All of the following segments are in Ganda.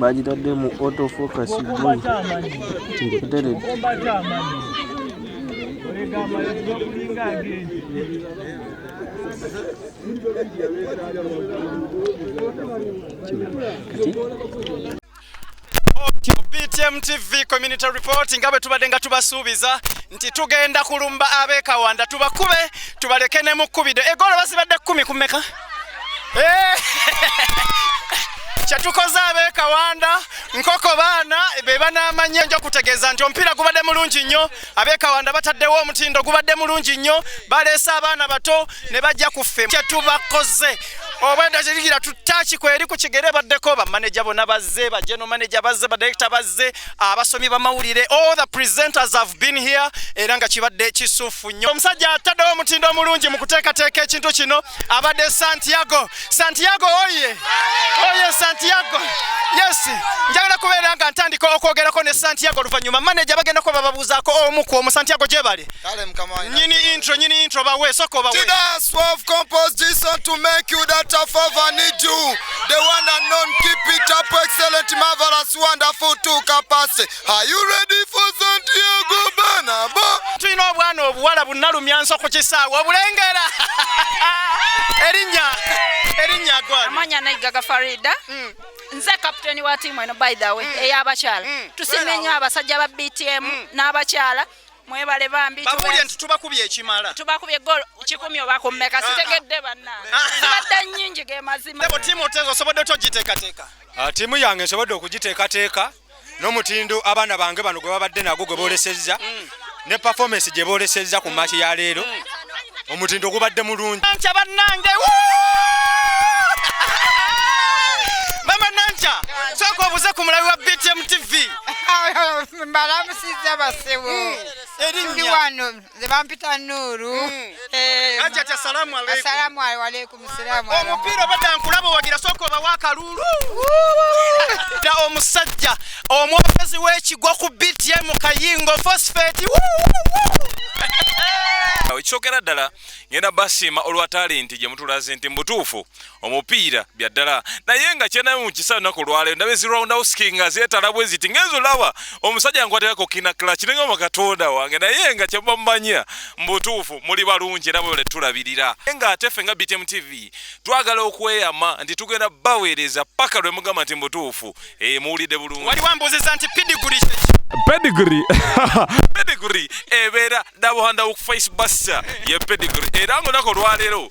bagitadde mu autofocus teredde BTM TV community report nga bwe tubadde nga tubasuubiza nti tugenda kulumba ab'e Kawanda tubakube tubaleke ne mu kkubiddo egolo bazibadde kkumi ku mmeka eh! kyetukoze ab'e Kawanda nkoko baana be banaamanya nja okutegeeza nti omupiira gubadde mulungi nnyo abekawanda bataddewo omutindo gubadde mulungi nnyo baleese abaana bato ne bajja ku ffe kyetubakoze obwedda kirigira tutaki kweri ku kigere baddeko bamaneja bona bazze bajeno maneja bazze badirekita bazze abasomi bamawulire all the presenters have been here era nga kibadde kisufu nnyo omusajja ataddewo omutindo omulungi mu kuteekateeka ekintu kino abadde santiago santiago oye oye santiago yes njagala kubeera nga ntandika okwogerako ne santiago oluvannyuma maneja bagenda kuba bababuuzaako omu ku omu santiago gyebali nyini intro nyini intro bawe soka obawe the one and known keep it up excellent marvelous wonderful to capacity tulina obwana obuwala bunalumyanso ku kisaawe obulengera erinnya erinnya amanya naigaga farida mm. nze kapiteni wa tiimu eno by the way mm. ey'abakyala mm. tusiima ennyo abasajja ba btm n'abakyala mwebale bambi babulye nti tubakubye ekimala tubakubye gol kikumi oba ku mmeka ah, ah. sitegedde bannange ah, zibadde nnyingi ge mazima tiimu osobodde otogitekateka tiimu yange nsobodde okugiteekateeka n'omutindo abaana bange bano gwe babadde nagwo gwe boolesezza mm. ne performance gye boolesezza ku maaki ya leero mm. omutindo gubadde mulungi nkya bannange mama nankya sooka obuze ku mulabi wa btm tv mbalamusiza basibu mm. erinnya nze bampita nuuru hmm. eh, ajati assalamu aleikum omupiira obadda nkulaba owagira sooka obawo akaluulu da omusajja omwogezi w'ekigwa ku btm kayingo fosfeti ekyokera ddala ngenda basiima olwa talenti gye mutulaze nti mubutuufu omupiira bya ddala naye nga kyenayo mu kisaa lunaku olwaleero ndaba ezi round houski nga zeetala bwe ziti ngenzo laba omusajja nkwatekako kinakla kiringa mu katonda wange naye nga kyebamumanya mu butuufu muli balungi era bwebale tulabirira naye nga ate ffe nga btm tv twagala okweyama nti tugenda baweereza paka lwe mugamba nti mu butuufu eh, muwulidde bulungi wali wambuuziza nti pidiguli kyeki pedigree pedigree ebeera dabuhandawo ku face buster ye pedigree era nga olunaku olwaleero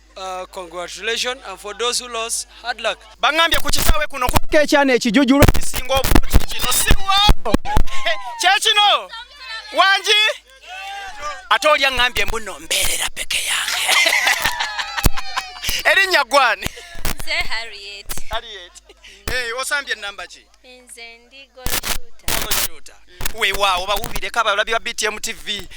Uh, congratulations and for those who lost hard luck bangambye ku kisaawe kuno kuliko ekyana ekijujulu ekisinga obulungi kino siwo kyekino wangi ate oli aŋambye mbuno mbeerera peke yange erinnya gwani osambye ennamba ki nze ndi goloshooter weewaawo bawubireko abalabi ba btm tv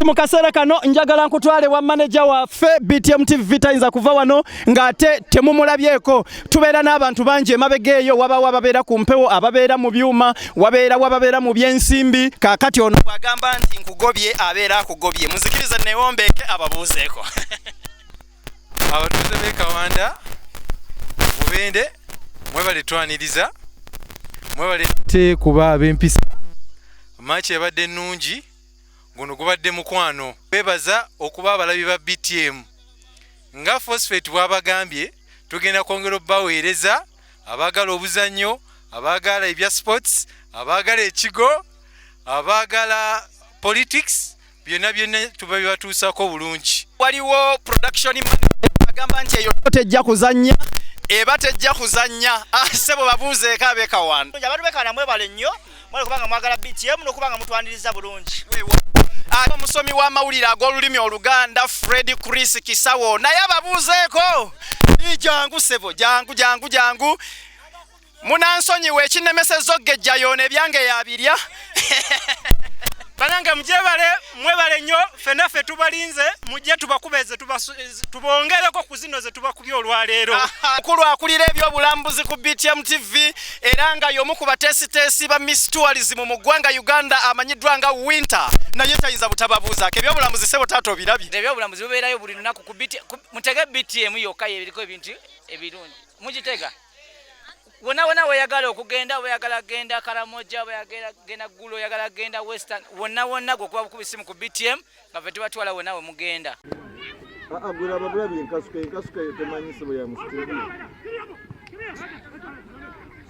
mu kaseera kano njagala nkutwale wa maneja waffe btm tv tayinza kuva wano ng'ate temumulabyeko tubeera n'abantu bangi emabega eyo wabawo ababeera ku mpewo ababeera mu byuma wabeera wababeera mu byensimbi kaakati ono bwagamba nti nkugobye abeera akugobye muzikirize newombeeke ababuuzeeko abatuuze bekawanda mubende mwebale twaniriza mwebale te kuba abempisa maaki ebadde ennungi guno gubadde mukwano bebaza okuba abalabi ba btm nga fosfet bwabagambye tugenda kwongera obubaweereza abaagala obuzannyo abaagala ebya sports abaagala ekigo abaagala politics byonna byonna tubabibatuusaako bulungi waliwo production agamba nti eyo tejja kuzannya eba tejja kuzannya ah, sebo babuuzeeko abekawano abantu bekana mwebale nnyo mwali kubanga mwagala btm nokubanga mutwaniriza bulungi ah, omusomi w'amawulire ag'olulimi oluganda fred chris kisawo naye ababuuzeeko jangu sebo jangu jangu jangu munansonyiwa ekinemeseza ogejja yoona ebyange yabirya banange mujebale mwebale nnyo fena fe tubalinze mujje tubakubeze tubongereko ku zino ze tubakubye olwaleero mukulu akulira ebyobulambuzi ku btm tv era nga yomu ku bateesiteesi ba miss tourism mu ggwanga uganda amanyiddwa nga winter naye tayinza butababuuzaako ebyobulambuzi sebo taata obirabye ebyobulambuzi bubeerayo buli lunaku mutege btm yokka yebiriko ebintu ebirungi mugitega wona wona weyagala okugenda weyagala genda karamoja weyagala genda gulu weyagala genda western wona wona gwokuba bukuba isimu ku btm nga fe tubatwala wona we mugenda agwira ababula bye nkasuka enkasuka temanyi sibo ya musitiri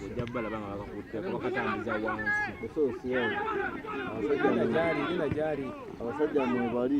ojabala banga bakakutte bakatambuza wansi esosi yawe abasajja mwebali